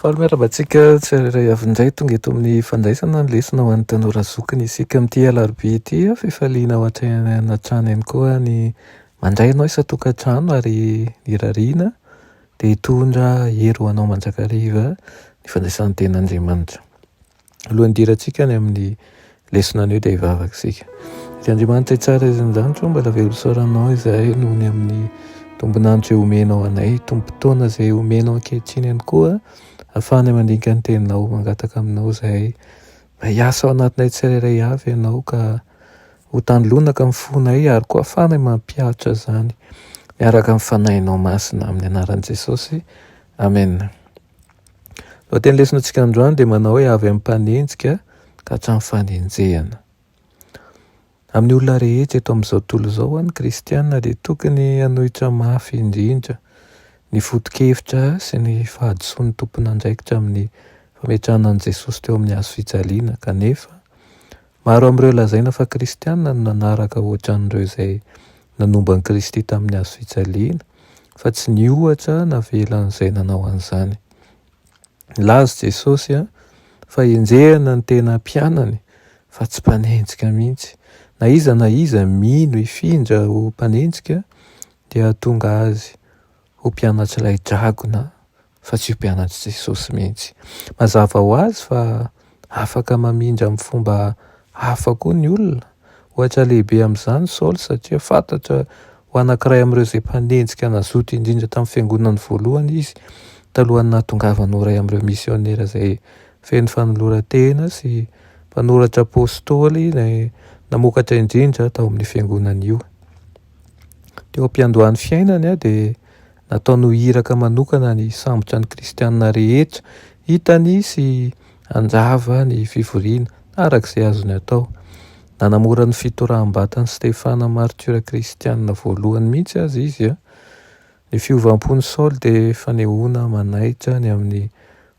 Faly miarahaba antsika tsirairay avy indray tonga eto amin'ny fandraisana ny lesona ho an'ny tanora zokiny isika amin'ity alarobia ity. Fifaliana ho hatrany hatrany ihany koa ny mandray anao isan-tokantrano ary irariana dia hitondra hery ho anao mandrakariva ny fandraisan'ny tenin'Andriamanitra. Alohan'ny hidirantsika any amin'ny lesona anio dia hivavaka isika. Dia Andriamanitra tsara izan-janitro, mbala velosôranao izahay noho ny amin'ny tombonandro izay omenao anay, tombon-potoana izay omenao ankehitriny ihany koa, afahana mandinika ny teninao, mangataka aminao izahay, mba hiasa ao anatinay tsirairay avy ianao ka ho tanilonaka ny fonay ary koa afahana mampiaritra izany miaraka amin'ny fanahinao masina amin'ny anaran'i Jesosy. Amena. Lohatenin'ny lesonatsika androany dia manao hoe avy amin'ny mpanenjika ka hatramin'ny fanenjehana. Amin'ny olona rehetra eto amin'izao tontolo izao, ny kristiana dia tokony hanohitra mafy indrindra ny foto-kevitra sy ny fahadisoan'ny tompon'andraikitra amin'ny fametrahana an'i Jesosy teo amin'ny hazo fijaliana, kanefa Maro amin'ireo lazaina fa kristiana no nanaraka ohatran'ireo izay nanomba an'i Kristy tamin'ny hazo fijaliana, fa tsy nihoatra navelan'izay nanao an'izany. Nilaza Jesosy fa henjehina ny tena mpianany, fa tsy mpanenjika mihitsy. Na iza na iza mino hifindra ho mpanenjika dia hahatonga azy ho mpianatr'ilay dragona fa tsy io mpianatr'i Jesosy mihitsy. Mazava ho azy fa afaka mamindra amin'ny fomba hafa koa ny olona. Ohatra lehibe amin'izany Saoly, satria fantatra ho anankiray amin'ireo izay mpanenjika nazoto indrindra tamin'ny fiangonany voalohany izy, talohan'ny nahatongavany ho iray amin'ireo misionera izay feno fanoloran-tena sy mpanoratra apostoly namokatra indrindra tao amin'io fiangonana io. Teo am-piandohan'ny fiainany dia Nataony ho iraka manokana ny hisambotra ny kristiana rehetra hitany sy hanjava ny fivoriana, araka izay azony atao. Nanamora ny fitoraham-batan'i Stefana martiora kristiana voalohany mihitsy aza izy. Ny fiovam-pon'i Saoly dia fanehoana manaitra ny amin'ny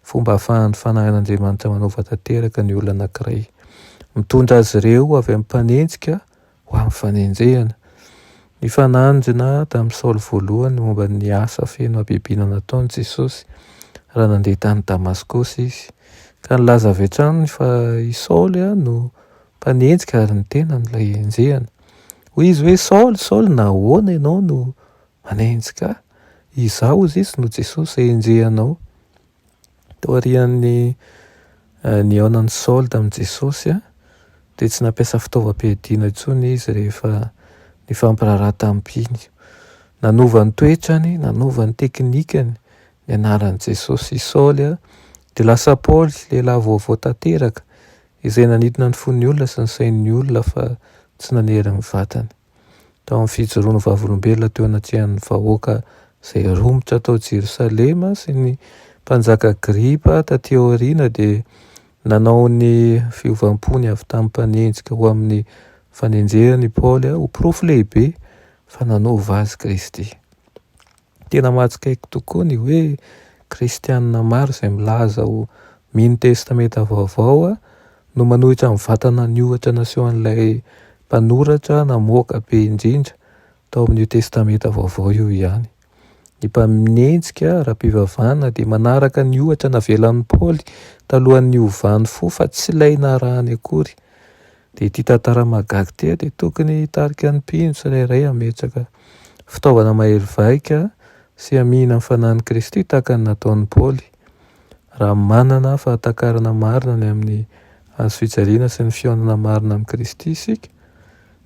fomba ahafahan'ny fanahin'Andriamanitra manova tanteraka ny olona anankiray, mitondra azy ireo avy amin'ny mpanenjika ho amin'ny fanenjehana. Nifanandrina tamin'i Saoly voalohany momba ny asa feno habibiana nataon'i Jesosy, raha nandeha tany Damaskosy izy, ka nilaza avy hatrany fa i Saoly no mpanenjika ary ny tenany ilay enjehana. Hoy izy hoe, Saoly, Saoly, nahoana ianao no manenjika ahy? Izaho, hoy Izy, no Jesosy izay enjehanao. Taorian'ny nihaonan'i Saoly tamin'i Jesosy, dia tsy nampiasa fitaovam-piadiana intsony izy rehefa nifampiraharaha tamin'ny mpino. Nanova ny toetrany, nanova ny teknikany nianaran'i Jesosy i Saoly, dia lasa Paoly, lehilahy vaovao tanteraka, izay nanintona ny fon'ny olona sy ny sain'ny olona fa tsy nanery ny vatany. Tao amin'ny fijoroan'ny Vavolombelona teo anatrehan'ny vahoaka izay romotra tao Jerosalema sy ny Mpanjaka Agripa tatỳ aoriana, dia nanao ny fiovam-pony avy tamin'ny mpanenjika ho amin'ny fanenjehana i Paoly ho porofo lehibe fa nanova azy Kristy. Tena mahatsikaiky tokoa ny hoe kristiana maro izay milaza ho mino Testamenta Vaovao no manohitra ny vatana niohatra nasehon'ilay mpanoratra namoaka be indrindra tao amin'io Testamenta Vaovao io ihany. Ny mpaminenjika ara-pivavahana dia manaraka ny ohatra navelan'i Paoly talohan'ny hovany fo fa tsy ilay narahany akory Dia ity tantara mahagaga ity dia tokony hitarika ny mpino tsirairay hametraka fitaovana mahery vaika sy hamihina ny fanahin'i Kristy tahaka ny nataon'i Paoly, raha manana fahatakarana marina ny amin'ny Hazo fijaliana sy ny fihaonana marina amin'i Kristy isika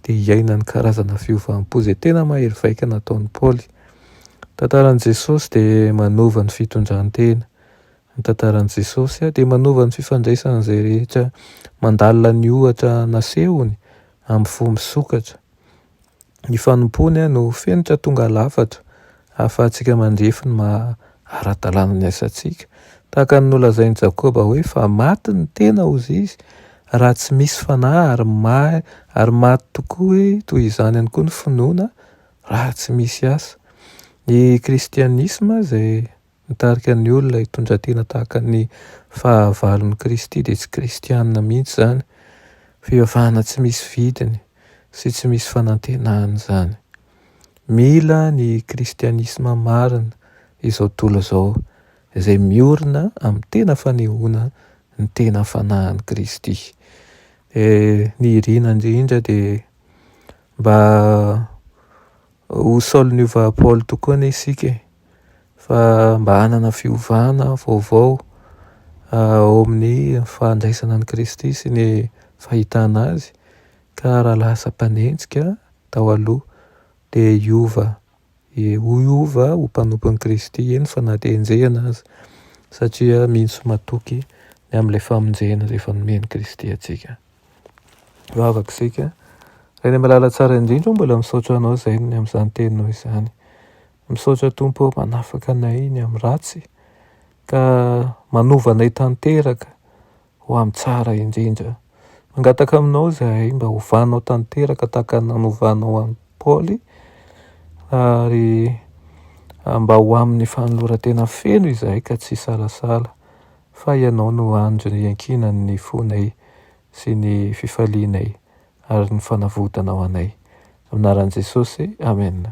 dia hiaina ny karazana fiovam-po izay tena mahery vaika nataon'i Paoly. Ny tantaran'i Jesosy dia manova ny fitondran-tena Ny tantaran'i Jesosy dia manova ny fifandraisan'izay rehetra mandalina ny ohatra nasehony amin'ny fo misokatra. Ny fanompoany no fenitra tonga lafatra ahafahantsika mandrefy ny maha ara-dalàna ny asantsika. Tahaka ny nolazain'i Jakoba hoe, Fa maty ny tena, hozy izy, raha tsy misy fanahy, ary mahy, ary maty tokoa hoe toy izany ihany koa ny finoana, raha tsy misy asa. Ny kristianisma izay Mitarika ny olona hitondra tena tahaka ny fahavalon'i Kristy dia tsy kristiana mihitsy izany, fivavahana tsy misy vidiny sy tsy misy fanantenana izany. Mila ny kristianisma marina izao tontolo izao izay miorina amin'ny tena fanehoana ny tena fanahin'i Kristy. Eh, ny iriana indrindra dia mba ho Saolin'i Paoly tokoa anie isika e. fa mba hanana fiovana vaovao ao amin'ny fandraisana an'i Kristy sy ny fahitana Azy, ka raha lasa mpanenjika tao aloha dia hiova hiova ho mpanompon'i Kristy, eny fa na dia enjehina aza, satria misy matoky ny amin'ilay famonjena izay efa nomen'i Kristy antsika. Vavaka isika, Ray Malala Tsara indrindra ô, mbola misaotra Anao izay ny amin'izany teninao izany, Misaotra Tompo ô manafaka anay ny amin'ny ratsy ka manova anay tanteraka ho amin'ny tsara indrindra. Mangataka aminao izahay mba hovanao tanteraka tahaka ny nanovanao an'i Paoly ary mba ho amin'ny fanoloran-tena feno izahay ka tsy hisalasala fa ianao no andry ny iankinan'ny fonay sy ny fifalianay ary ny fanavotana ho anay. Amin'ny anaran'i Jesosy, Amen.